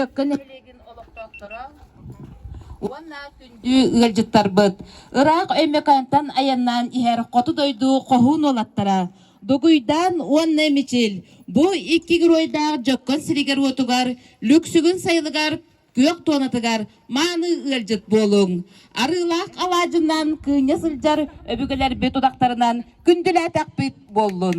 Дьөккөн нэһилиэгин олохтоохторо уонна күндү ыалдьыттарбыт ыраах Өймөкөөнтөн айаннаан иһэр хоту дойду хоһуун уолаттара Дугуйдаан уонна Мичил бу икки геройдаах дьоккон сиригэр-уотугар, Лүксүгүн сайылыгар, күөх туонатыгар мааны ыалдьыт буолуҥ. Арыылаах алаадьынан кыынньа сылдьар өбүгэлэрбит удахтарынан күндүлээтэхпит буоллун.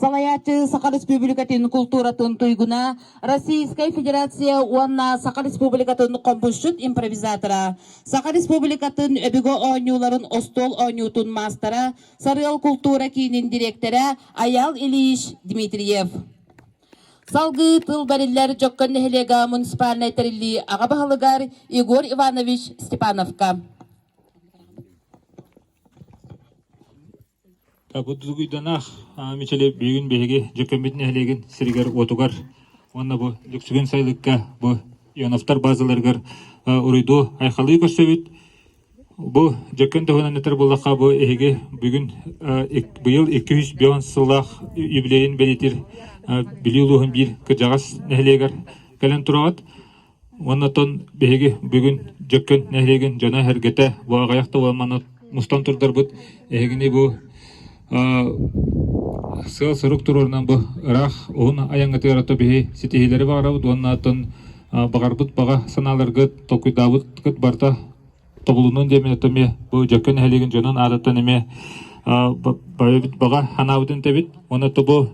салайааччы Саха Республикатын култууратын туйгуна, Российская Федерация уонна Саха Республикатын хомпушчут импровизатора, Саха Республикатын өбүгэ оонньууларын остуол оонньуутун маастара, Сарыал култуура киинин дириэктэрэ Аял Ильич Дмитриев. Салгыы тыл бэриллэр Дьоккон нэһилиэгэ муниципальнай тэриллии аҕа баһылыгар Егор Иванович Степановка. Будулгуйданаах Мичили билигин биһиги Дьөкүөмбүт нэһилиэгин сиригэр-уотугар уонна бу Лүксүгүн сайылыкка бу Ионовтар баазаларыгар уруйдуу айхалыы көрсөбүт. Бу Дьөкүөн таһынан этэр буоллахха, бу эһиги бүгүн быйыл икки үс биэс сыллаах юбилейын бэлиэтиир Бүлүү улууһун биир кырдьаҕас нэһилиэгэр кэлэн тураҕыт. Уонна оттон биһиги бүгүн Дьөккөн нэһилиэгин дьоно эһэргэтэ бу аҕыйах да буолан манна мустан турдарбыт эһигини бу сыал-сорук туруорунан бу ыраах уһун айаҥҥытыгар ото биһи ситиһиилэри баҕарабыт уонна оттон баҕарбыт баҕа санааларгыт толкуйдаабыт барыта тобулунун диэмин этэ эмиэ бу Дьөккөн нэһилиэгин дьонун аатыттан эмиэ байбыт баҕа ханаабытын тэбит уонна бу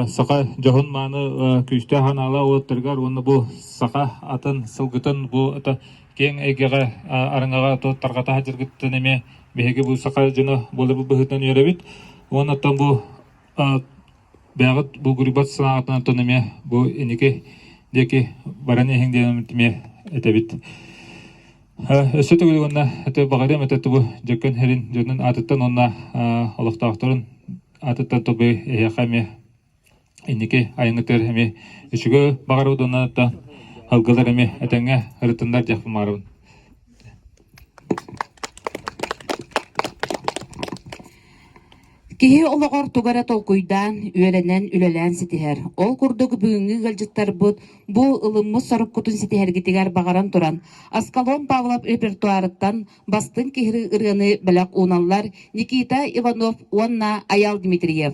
саха дьоһун мааны күүстээх ханаала уоттарыгар уонна бу саха атын сылгытын бу это киэҥ эйгэҕэ арыҥаҕа тарҕата садьыргыттан эмиэ биһиги бу саха дьоно буола быһыытынан үөрэбит уонна бу Бэҕит бу гурбат санаатынан тономе бу иники диэки баран иһиҥ диэн эмтимиэ этэбит. Өссө төгүл уонна эти баҕарыам этэ тубу дьөккөн хэрин дьонун аатыттан уонна олохтоохторун аатыттан тобу эһиэхэ эмиэ инники айынгытыгар эми үчүгө баҕарабыт уонна та халгылар эми этэҥҥэ ырытыннар диэх маарабын Киһи олоҕор тугу эрэ толкуйдаан, үөрэнэн, үлэлээн ситиһэр. Ол курдук бүгүҥҥү ыалдьыттарбыт бу ылыммыт соруккутун ситиһэргитигэр баҕаран туран, Аскалон Павлов репертуарыттан бастыҥ киһи ырыаны бэлэх ууналлар Никита Иванов уонна Айал Дмитриев.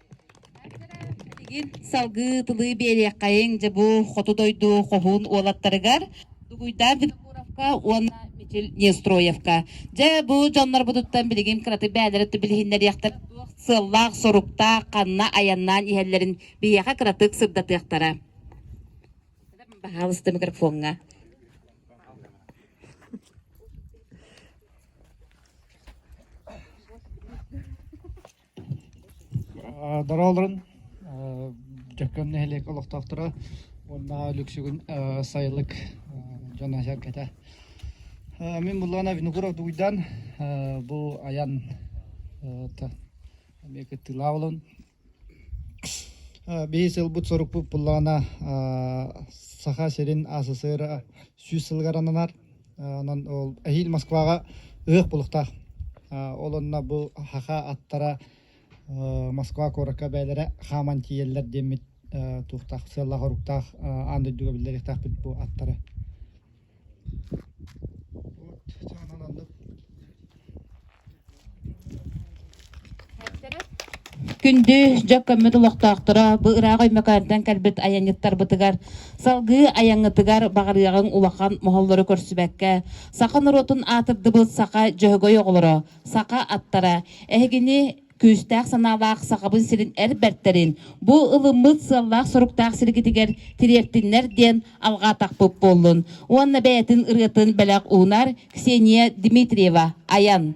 Билигин салгыы тылы биэриэххэйиҥ дьэ бу хоту дойду хоһуун уолаттарыгар Дугуйдаан Винокуровка уонна Мичил Нестроевка. Дьэ бу дьоннорбутуттан билигин кыратык бэйэлэрэ өттө билиһиннэриэхтэрэ туох сыаллаах, соруктаах, ханна айаннаан иһэллэрин биһиэхэ кыратык сырдатыахтара. Пожалуйста, микрофоҥҥа. Дороо олорон Дьөккөн нэһилиэк олохтоохторо уонна Лүксүгүн сайылык дьон эһэргэтэ. Мин Муллана Виногуров Дугуйдаан бу айан эмиэ кыттыылаах буолан биһис сылбыт сорукпут Буллаана Саха сирин СССР сүүс сылыгар ананар Онон ол эһиил Москваҕа ыһыах булуктаах. Ол онно бу хаха аттара Москва куоракка бэйэлэрэ хааман тиийэллэр диэммит туохтаах сыаллаах-хоруктаах аан дойдуга биллэриэхтээхпит бу аттары. Вот, чаанан аннык Күндү дьэ көммүт олохтоохторо, бу ыраах Өймөкөөнтөн кэлбит айанньыттарбытыгар, салгыы айаҥҥытыгар баҕарыаҕыҥ улахан моһоллору көрсүбэккэ, саха норуотун аатырдыбыт саха дьөһөгөй оҕолоро, саха аттара, эһигини күүстээх санаалаах Сахабын сирин эр бэртэрин, бу ылыммыт сыаллаах-соруктаах сиргитигэр тириэртиннэр диэн алҕаатахпыт буоллун. Уонна бэйэтин ырыатын бэлэх уунар Ксения Дмитриева айан.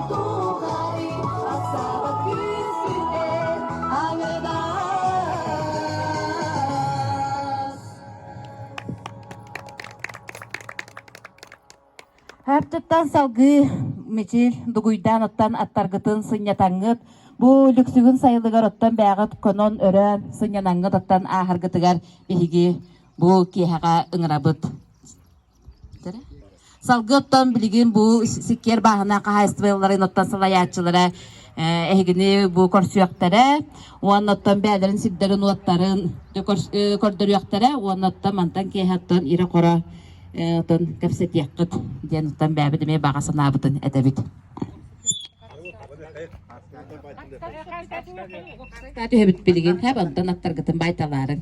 Өртүттэн салгыы мичил дугуйдаан оттон аттаргытын сынньатаңгыт, бу лүксүгүн сайылыгар оттон бээҕит конон өрөөн сынньанаңгыт оттон ааһаргытыгар биһиги бу киэһэҕэ ыҥырабыт. Салгыы оттон билигин бу сиккиэр бааһына хаһаайыстыбаларын оттон салайааччылара эһигини бу көрсүөхтэрэ уонна оттон бэйэлэрин сирдэрин уоттарын көрдөрүөхтэрэ уонна оттон мантан киэһэ оттон ирэ-хоро оттон кэпсэтиэххит диэн оттон бэйэбит эмиэ баҕа санаабытын этэбит. Түһэбит билигин хэ онтон аттаргытын байталаарын.